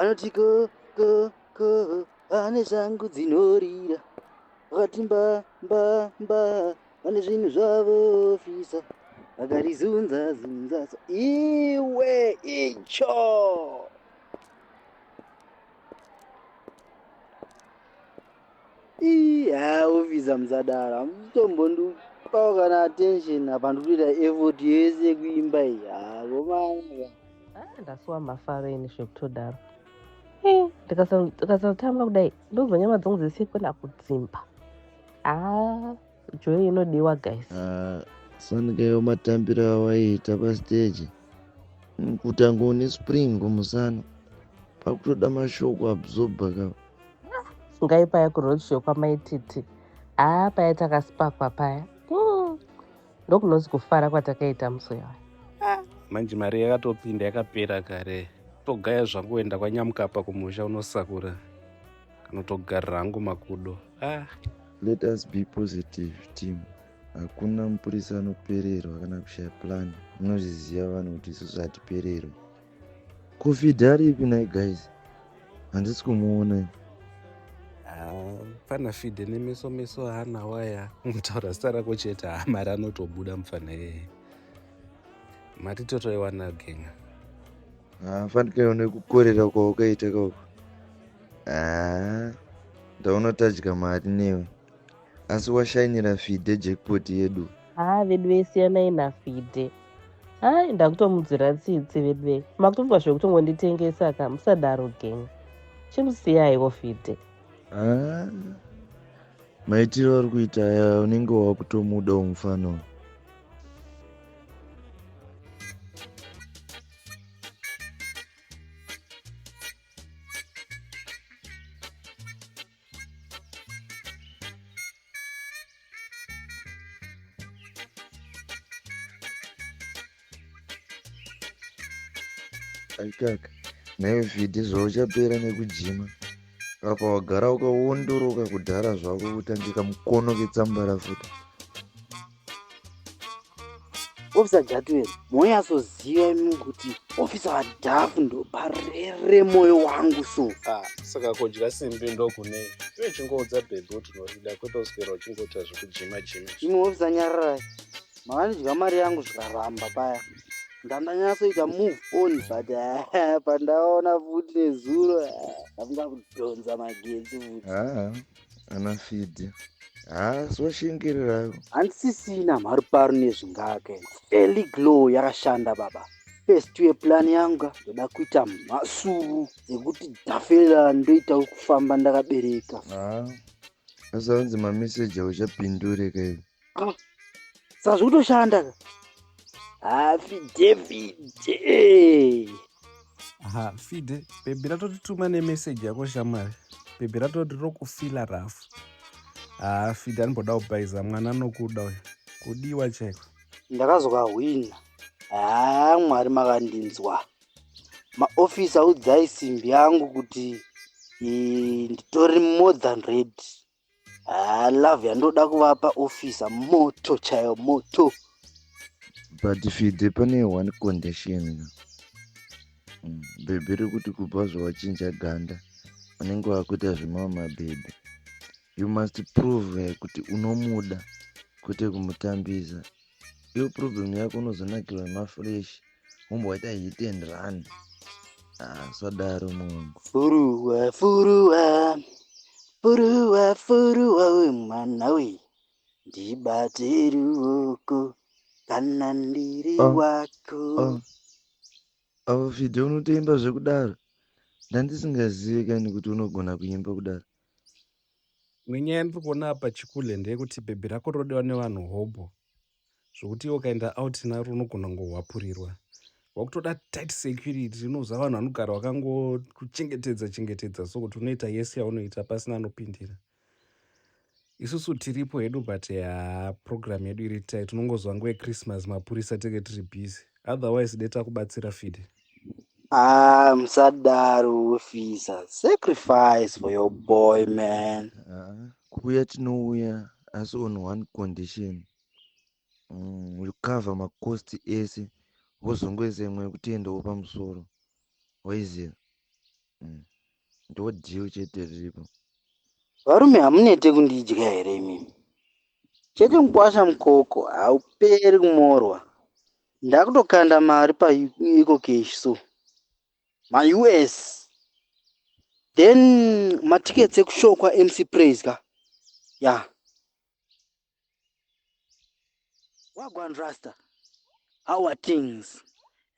anoti ko ko ko ane shangu dzinorira vakati mba mba mba vane zvinhu zvavo fisa vakarizunza zunza iwe icho Ii, haa officer musadaro hamutombondipawo kana attention apa ndikutoita effort yese yekuimba iyi haa vomana Ah, ndasuwa mafaro ini zvekutodaro Eh, ndikasa- ndikasatamba kudai ndonzwa nyama dzangu dzese kwenda kudzimba ah joy inodiwa guys ah, sanikayo matambiro awaiita pastage kutanga une spring kumusana pakutoda mashoko absorba ka ngai paya kuroadshow kwamaititi haa ah, paya takasipakwa paya hmm. ndokunonzi kufara kwatakaita musi uyawa ah, manje mari yakatopinda yakapera kare togaya zvangu enda kwanyamukapa kumusha unosakura kanotogarira hangu makudo ah. let us be positive team hakuna mupurisa anopererwa kana kushaya plan munozviziva vanhu kuti isusu hatipererwe covid ari ipi nai guys handisi kumuona ah, pana fide nemeso meso hana waya mutaura zita rako chete hamari ah, anotobuda mufana yeye mati totoiwana genga hafanikaona ah, kukorera kwaukaita kauko haa ndaona tadya mari newe asi washainira fide jackpot yedu haa vedu vesiyanai nafide hai ndakutomudzira tsitsi veduve makutofunga zvekutongonditengesa ka musadaro gang chimusiyaiwo fide haa maitiro ari kuita aya unenge wakutomuda umufana uyu aikaka nayo fidhi zvauchapera nekujima apa wagara ukawondoroka kudhara zvako kutangika mukono ketsambara futi ofisa jatuel moyasoziva imi kuti ofisa vadhafu ndoparere moyo wangu so ah, saka kudya simbi ndokune iwe chingoudza bhebhi kuti unorida kwete uswera uchingoita zvekujima jima imwe ofisa nyararai mavanidya mari yangu zvikaramba paya ndandanyasoita move on but eh, pandaona futi nezuro eh, ndamga kudhonza magetsi futi ah. ana fidhi haasoshingira handisisina mhari pari nezvingake eli glow yakashanda baba first ye plan yanga ndoda kuita mhasuru dzekuti dhafela ndoita kufamba ndakabereka haa asanzi mameseji auchapindurika ivi ah, saka zvikutoshanda ka hafide fide ha fide bhebhi ratotituma nemeseji yako shamwari bhebhi ratoti rokufila rafu ha fide anomboda kubhaiza mwana anokuda uyo kudiwa chaiko ndakazokahwina haa mwari makandinzwa maofisa udzai simbi yangu kuti eh, nditori more than ready Ah, love yandoda kuvapa officer moto chayo moto but fide pane one condition mm, bhebhi rekuti kubva zvawachinja ganda unenge wakuita zvemamwe mabhebhi you must prove kuti unomuda kwete kumutambisa Iyo problem yako unozonakirwa nemafresh womboita hit and run. Ah, swadaro mungu. Furuwa furuwa furuwa furuwa we mwana we ndibate ruoko kana ndiri oh, wako. Oh. Avo Fidhe unotoimba zvekudaro ndandisingazive kani kuti unogona kuimba kudaro. Nyaya yandiri kuona apa chikule ndeyekuti bhebhi rako rinodiwa nevanhu hobho zvokuti iwe ukaenda out naro unogona kungohwapurirwa. Wakutoda tight security unoziva vanhu vanogara vakangokuchengetedza chengetedza so kuti unoita yese yaunoita pasina anopindira. Isusu tiripo hedu but haa program yedu iri tight unongozwa nguva yechristmas mapurisa tenge tiri busy otherwise dai takubatsira fide. Ah, musadaro officer. Sacrifice for your boy, man. Ah, kuuya tinouya asi on one condition. Mm, will cover macost ese wozongoisa imwe yekuti endawo pamusoro. Waiziva? Mm. Ndo deal chete riripo. Varume hamunete kundidya here imimi? Chete mukwasha mukoko hauperi kumorwa. ndakutokanda mari paecocash so maus then matickets ekushow kwamc praise ka ya yeah. wagwan rasta how are things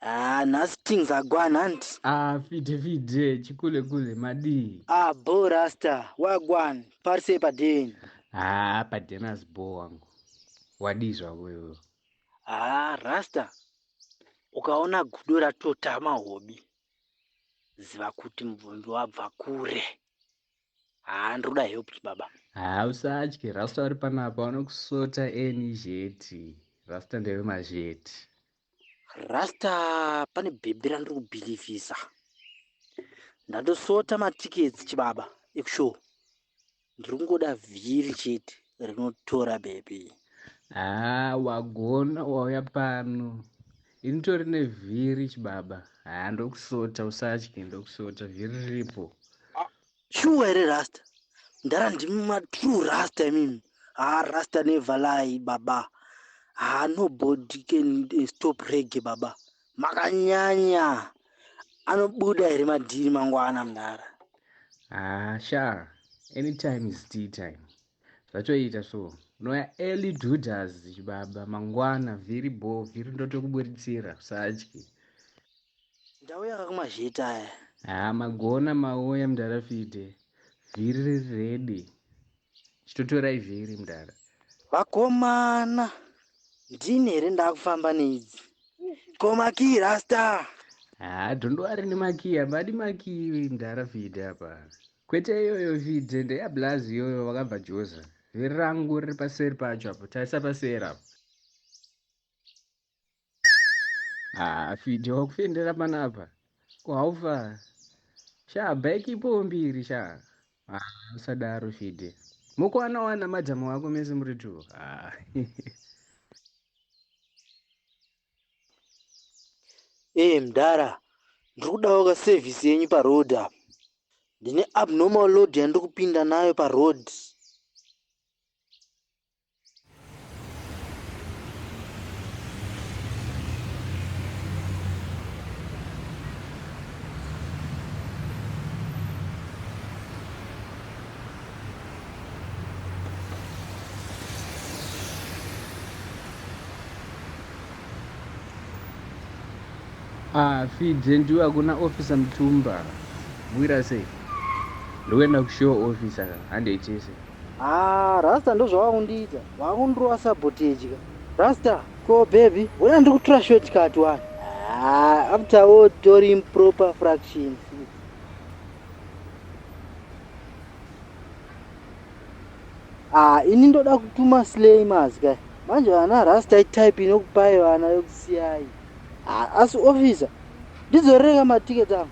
Ah, nhasi things agwana hanti ah, fite fite chikule kule madii ah, bo rasta wagwan parisei padeni ah, padenas bo wangu wadii zvako iwewe Haa rasta ukaona gudo ratotama hobi ziva kuti mubvunzo wabva kure. Haa ndroda help chibaba. Haa usatye rasta vari panapa vanokusota eni zheti rasta ndeve mazheti. Rasta pane bhebhi randiri kubhilivhisa ndatosota matickets chibaba ekushow Ndirikungoda vhiri chete rinotora baby. Haa wagona wauya pano. Ini tori nevhiri chibaba. Haa ndokusota usatye ndokusota vhiri riripo. Shuwa here rasta? Ndara ndimi ma true rasta imimi. Haa rasta never lie baba. Haa nobody can eh, stop reggae baba. Makanyanya anobuda here madhiri mangwana mdara? Haa shaa anytime is tea time zvatoita so unoya early dudas chibaba mangwana vhiri bho vhiri ndotokuburitsira usatye ndau yakakumazheta aya haa magona mauya mdara fide vhiri riri redi chitotorai vhiri mdara vakomana ndini here ndakufamba neidzi ko makii rasta haa dhondo ari nemakii apa adi makii mdara vhidhi apa kwete iyoyo vhidhi ndeyablaz iyoyo vakabva joza vhiri rangu riri paseri pacho apo tarisa paseri apo Ah, fidhi wakufendera panapa ko haufa sha bike ipowo mbiri sha ah, usadaro fidhi mukuwana wana madzamu wako mese muri two ah. ee mdara ndiri kudawo ka service yenyu paroad apa ndine abnormal load yandiri kupinda nayo paroad Ah, fidze ndiwe hakuna officer mtumba. Bwira sei? Ndokuenda kushow officer handei tese. Haa rasta ndozvawakundiita wakundirova sabotage ka rasta. Ko baby wona ndiri kutura short cut wani. Haa after wo tori improper fractions. Haa ini ndoda kutuma slay mazi kai manje vana rasta itype inokupai vana yokusiyai. Haa asi officer ndidzorereka maticket angu.